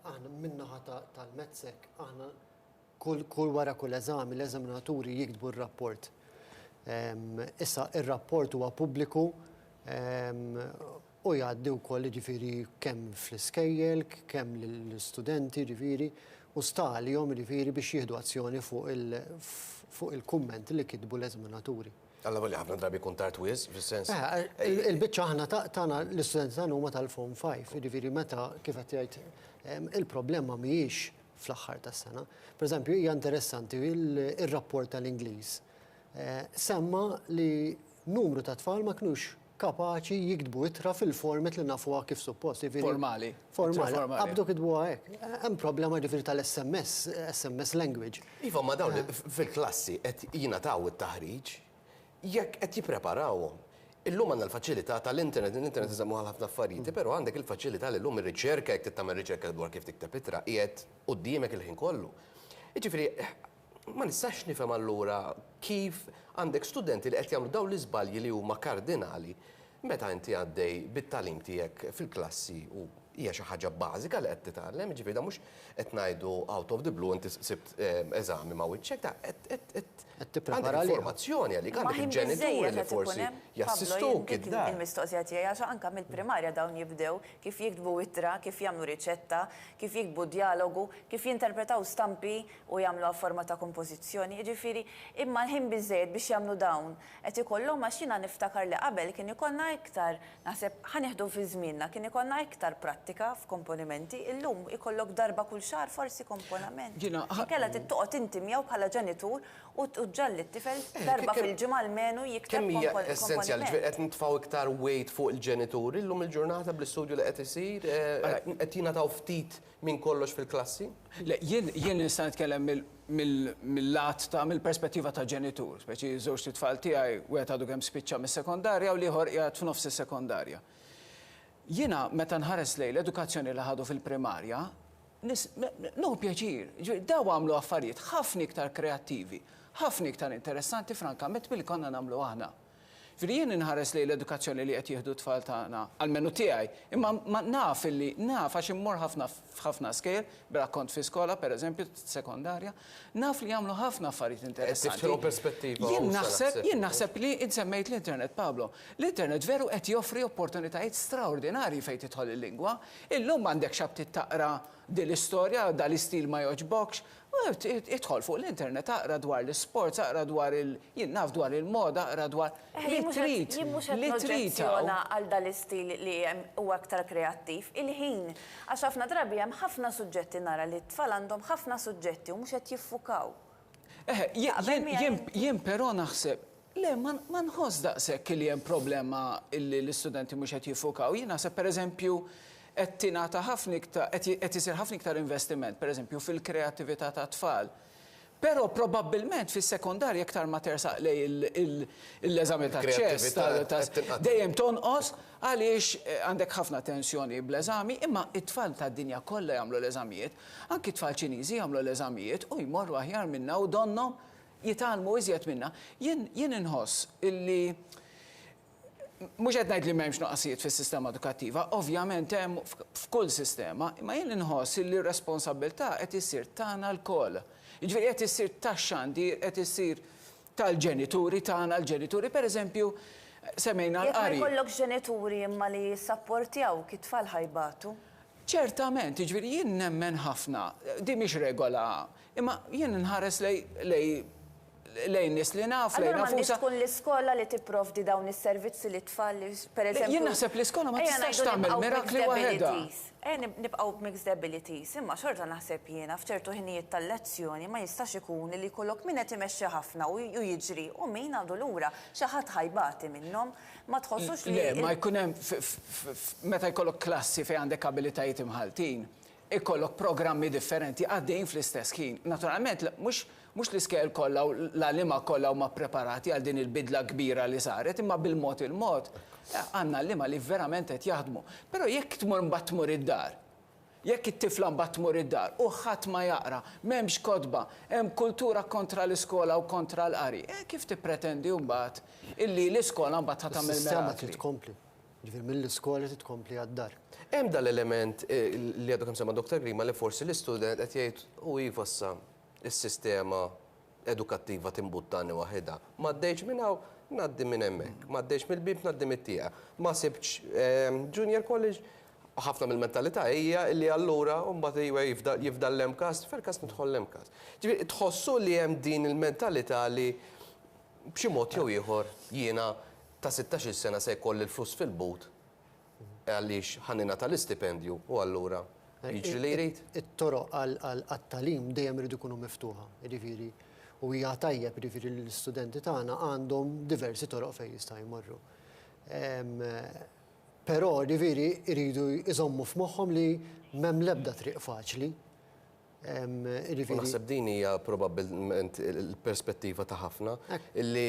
Aħna min-naħa tal-MedSec, aħna kull wara kull eżami l-eżaminaturi jiktbu r-rapport. Issa ir-rapport huwa pubbliku u jgħaddi wkoll jiġifieri kemm fl-iskejjel, kemm lill-istudenti jiġifieri u sta għalihom jiġifieri biex jieħdu azzjoni fuq il-kumment li kitbu l-eżaminaturi. Allavolja ħafna drabi jkun tard wis, fis-sens. Eh, eh, il-biċċa aħna tagħna l-istudenti tagħna huma tal-form 5, jiġifieri meta kif qed jgħid ehm, il-problema mhijiex fl-aħħar tas-sena. Per eżempju, hija interessanti il-rapport tal-Ingliż. Eh, semma li numru ta' tfal ma kinux kapaċi jiktbu ittra fil-format li nafuha kif suppost, jiġifieri. Formali. Formali. Formali. Qabdu kitbuha hekk. Hemm problema jiġifieri tal-SMS, SMS language. Iva, imma dawn fil-klassi qed jingħataw it-taħriġ jekk qed jippreparawhom. Illum għandna l-faċilità tal-internet, l-internet iżommu għal ħafna affarijiet, però għandek il-faċilità li llum ir-riċerka jekk trid tagħmel riċerka dwar kif tikteb ittra qiegħed quddiemek il-ħin kollu. Jiġifieri Ma nistax nifhem allura kif għandek studenti li qed jagħmlu dawn l-iżbalji li huma kardinali meta inti għaddej bit-tagħlim tiegħek fil-klassi u hija xi ħaġa bażika li qed titgħallem, jiġifieri dan mhux qed ngħidu out of the blue inti sibt eżami ma' wiċċek, dan qed Qed tipprepara għalih. Għandek informazzjoni għalik, għandek il-ġenituri li forsi jassistuk id-dar. Il-mistoqsija tiegħi għax anke mill-primarja dawn jibdew kif jiktbu ittra, kif jagħmlu riċetta, kif jiktbu djalogu, kif jinterpretaw stampi u jagħmluha f'forma ta' kompożizzjoni, jiġifieri, imma l-ħin biżżejjed biex jagħmlu dawn qed ikollhom għax jiena niftakar li qabel kien ikollna iktar, naħseb, ħa nieħdu fi żmienna, kien ikollna iktar prattika f'komponimenti, illum ikollok darba kull xahar forsi komponament. Inkella trid toqgħod inti miegħu bħala ġenitur u tġagħal lit-tifel darba fil-ġimgħa almenu jikteb komponiment. Kemm hija essenzjali, ġifieri qed nitfgħu iktar weight fuq il-ġenituri llum il-ġurnata bl-istudju li qed isir, qed jingħataw ftit Minn kollox fil-klassi? Le, jien, jien nista' nitkellem mill, mill, mill-lat ta', mill-perspettiva ta' ġenitur, speċi ż-żewġt itfal tiegħi, wieħed għadu kemm spiċċa mis-sekondarja u l-ieħor qiegħed f'nofs is-sekondarja. Jiena meta nħares lejn l-edukazzjoni li ħadu fil-primarja, nis, nieħu pjaċir. Jiġifieri daw għamlu affarijiet ħafna iktar kreattivi, ħafna iktar interessanti frankament milli konna nagħmlu aħna. Jiġifieri jien inħares lejn l-edukazzjoni li qed jieħdu t-tfal tagħna, almenu tiegħi, imma ma, naf illi, naf għax immur ħafna f'ħafna skejjel, bera kont fi skola, per eżempju, sekondarja, naf li jagħmlu ħafna affarijiet interessanti. Qed tiftħilhom perspettiva hawn, Sara, sepp. Jien naħseb, jien naħseb li int semmejt l-internet, Pablo. L-internet veru qed joffri opportunitajiet straordinarji fejn tidħol il-lingwa. Illum m'għandekx aptit taqra din l-istorja, dan l-istil ma jogħġbokx, Idħol fuq l-internet aqra dwar l-isports, aqra dwar il, jien naf dwar il-moda, aqra dwar, li trid, li trid hawn. għal dan l-istil li hemm huwa aktar kreattiv, il-ħin. Għax ħafna drabi hemm ħafna suġġetti nara li t-tfal għandhom ħafna suġġetti u mhux qed jiffukaw. Eħe, jien, jien, jien però naħseb, Le, ma nħoss daqshekk li hemm problema li l-istudenti mhux qed jiffukaw. Jien naħseb pereżempju qed tingħata ħafna iktar, qed isir ħafna iktar investiment, pereżempju fil-kreattività tat-tfal. Però probabbilment fis-sekondarja iktar ma tersaq lejn l-eżami taċ-ċess ta' dejjem tonqos għaliex għandek ħafna tensjoni bl-eżami, imma t-tfal tad-dinja kollha jagħmlu l-eżamijiet, anki t-tfal Ċiniżi jagħmlu l-eżamijiet u jmorru aħjar minna u donnhom jitgħallmu iżjed minna. Jien jien inħoss illi mhux qed ngħid li m'hemmx nuqqasijiet fis-sistema edukattiva, ovvjament hemm f'kull sistema, imma jien inħoss illi r-responsabbiltà qed issir tagħna lkoll. Jiġifieri qed issir tax-xandir, qed issir tal-ġenituri tagħna, l-ġenituri pereżempju semmejna l-qari. Jekk ma jkollokx ġenituri imma li jissapportjawk, it-tfal ħa jbatu. Ċertament, jiġifieri jien nemmen ħafna, din mhix regola Imma jien inħares lejn nies li naf, lejn nfusa. Allura m'għandhiex tkun l-iskola li tipprovdi dawn is-servizzi lit-tfal li pereżempju. Jien naħseb l-iskola ma tistax tagħmel mirakli waħedha. Ejja nibqgħu b'mixed abilities, imma xorta naħseb jiena f'ċertu ħinijiet tal-lezzjoni ma jistax ikun li jkollok min qed imexxi ħafna u jiġri u min għadu lura. Xi ħadd ħa jbati minnhom. Ma tħossux li. Le, ma jkun hemm meta jkollok klassi fejn għandek abilitajiet imħalltin, ikollok programmi differenti għaddejjin fl-istess ħin. Naturalment, mhux mhux l-iskejjel kollha u l-għalliema kollha huma ppreparati għal din il-bidla kbira li saret, imma bil-mod il-mod għandna għalliema li verament qed jaħdmu. Però jekk tmur mbagħad tmur id-dar, jekk it-tifla mbagħad tmur id-dar u ħadd ma jaqra, m'hemmx kotba, hemm kultura kontra l-iskola u kontra l-qari, eh kif tippretendi mbagħad illi l-iskola mbagħad ħa tagħmel mirakli? Is-sistema trid tkompli. Ġifieri mill-iskola trid tkompli għad-dar. Hemm dan l-element li għadu kemm semma Dottor Grima li forsi l-istudent qed jgħid u iva issa s-sistema edukattiva timbuttani waħidha. M'għaddejtx minn hawn, ngħaddi minn hemmhekk. M'għaddejtx mill-bieb, ngħaddi mit-tieqa. Ma sibtx junior college, ħafna mill-mentalità hija li allura mbagħad iva jifdal l-MCAST, fil-MCAST nidħol l-MCAST. Ġifieri tħossu li hemm din il-mentalità li B'xi mod jew ieħor jiena ta' sittax-il sena se jkolli l-flus fil-but għaliex ħa ningħata l-istipendju u allura jiġri li jrid. It-toroq għat-tagħlim dejjem iridu jkunu miftuħa, jiġifieri u hija tajjeb jiġifieri li l-istudenti tagħna għandhom diversi toroq fejn jistgħu jmorru. Però jiġifieri jridu jżommu f'moħħhom li m'hemm l-ebda triq faċli U naħseb din hija probabbilment il-perspettiva ta' ħafna illi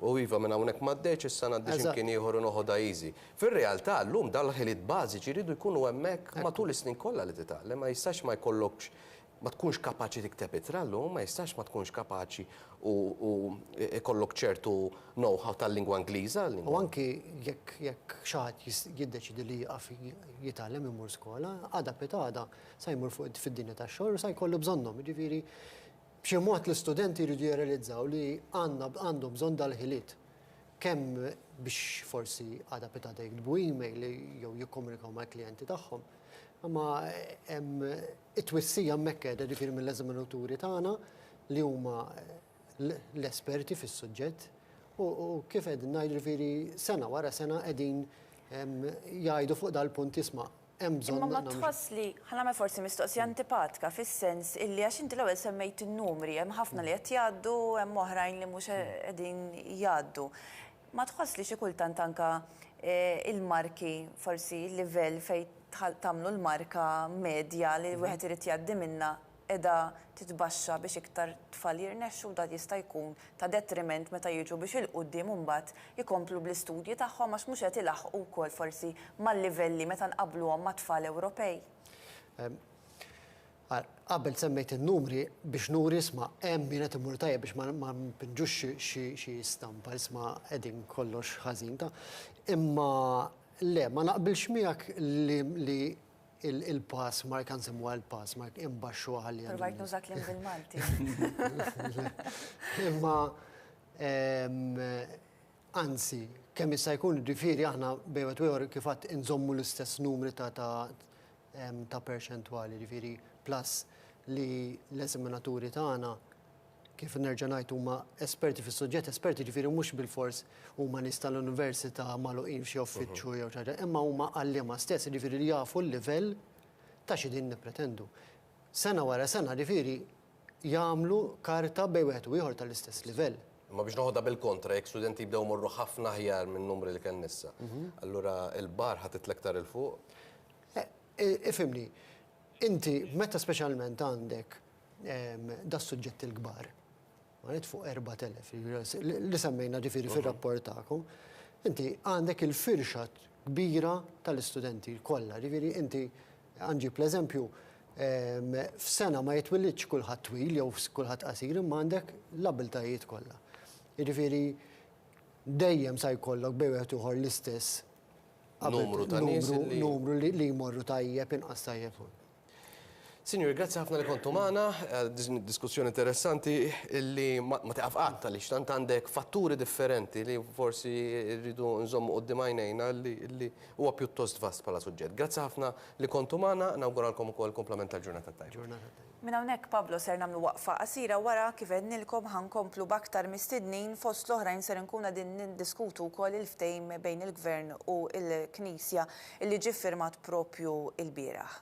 u iva minn hawnhekk m'għaddejtx issa ngħaddi xi mkien ieħor u noħodha easy. Fir-realtà llum dawn l-ħiliet bażiċi jridu jkunu hemmhekk matul is-snin kollha li titgħallem, ma jistax ma jkollokx ma tkunx kapaċi tikteb ittra llum, ma jistax ma tkunx kapaċi u jkollok ċertu know-how tal-lingwa Ingliża. U anki jekk xi ħadd jiddeċiedi li jieqaf jitgħallem imur skola, għada pitada sa jmur fuq fid-dinja tax-xogħol u sa jkollu bżonnhom. Jiġifieri b'xi mod l-istudenti jridu jirrealizzaw li għandhom bżonn dal-ħiliet kemm biex forsi għada pitada jiktbu email jew jikkomunikaw mal-klijenti tagħhom. Imma hemm it-twissija hemmhekk qiegħda ġifieri mill-eżaminaturi tagħna li huma l-esperti fis-suġġett u kif qegħdin ngħid ġifieri sena wara sena qegħdin jgħidu fuq dal-punt jisma' hemm bżonn Imma ma tħoss li, ħa nagħmel forsi mistoqsija antipatka fis-sens illi għax inti l-ewwel semmejt in-numri, hemm ħafna li qed jgħaddu, hemm oħrajn li mhux qegħdin jgħaddu. Ma tħoss li xi kultant anke l-marki, forsi l-livell fejn tagħmlu l-marka medja li wieħed irid jgħaddi minnha qiegħda titbaxxa biex iktar tfal jirnexxu u dan jista' jkun ta' detriment meta jiġu biex il-quddiem imbagħad ikomplu bl-istudji tagħhom għax mhux qed ilaħħqu wkoll forsi mal-livelli meta nqabbluhom ma' tfal Ewropej. Qabel semmejt in-numri biex nuri isma' hemm min qed imur tajjeb biex ma npinġux xi stampa isma' qegħdin kollox ħażin ta'. Imma le, ma naqbilx miegħek li Il-pass mark, għan semmuha il-pass mark, imbaxxu għalli għalli. Provajt nuża klim bil-Malti. Imma, anzi, kemm jista' jkun ġifieri aħna bejwet ieħor kif għad inżommu l-istess numri ta' perċentwali, ġifieri plus li l-eżaminaturi tagħna kif nerġa' ngħid huma esperti fis-suġġett, esperti ġifieri mhux bilfors huma nies tal-università magħluqin f'xi uffiċċju jew xi ħaġa, imma huma għalliema stess, jiġifieri li jafu l-livell ta' xi qegħdin nippretendu. Sena wara sena, jiġifieri jagħmlu karta bejn wieħed u ieħor tal-istess livell. Imma biex noħodha bil-kontra, jekk studenti jibdew imorru ħafna aħjar min-numri li kellna issa, allura l-bar ħa titla' iktar 'il fuq? Ifhimni, inti meta speċjalment għandek das-suġġetti l-kbar, right, fuq 4,000, li semmejna ġifieri fir-rapport tagħkom, inti għandek il-firxa kbira tal-istudenti kollha. Ġifieri inti, ħa nġib l-eżempju, f'sena ma jitwilidx kulħadd twil jew kulħadd qasir imma għandek l-abbiltajiet kollha. Jiġifieri dejjem se jkollok bejn wieħed u ieħor l-istess numru ta' nies li jmorru tajjeb, inqas tajjeb. Sinjuri, grazzi ħafna li kontu magħna, eh, din id-diskussjoni interessanti li ma ma tiqaf qatt għaliex tant għandek fatturi differenti li forsi rridu nżommu qudiem għajnejna li li huwa pjuttost vast bħala suġġett. Grazzi ħafna li kontu magħna, nawguralkom ukoll komplement tal-ġurnata tajba. Ġurnata tajba. Minn hawnhekk Pablo ser nagħmlu waqfa qasira wara kif għednilkom ħa nkomplu b'aktar mistednin fost l-oħrajn ser inkunu qegħdin niddiskutu wkoll il-ftehim bejn il-Gvern u l-Knisja li ġie ffirmat proprju lbieraħ.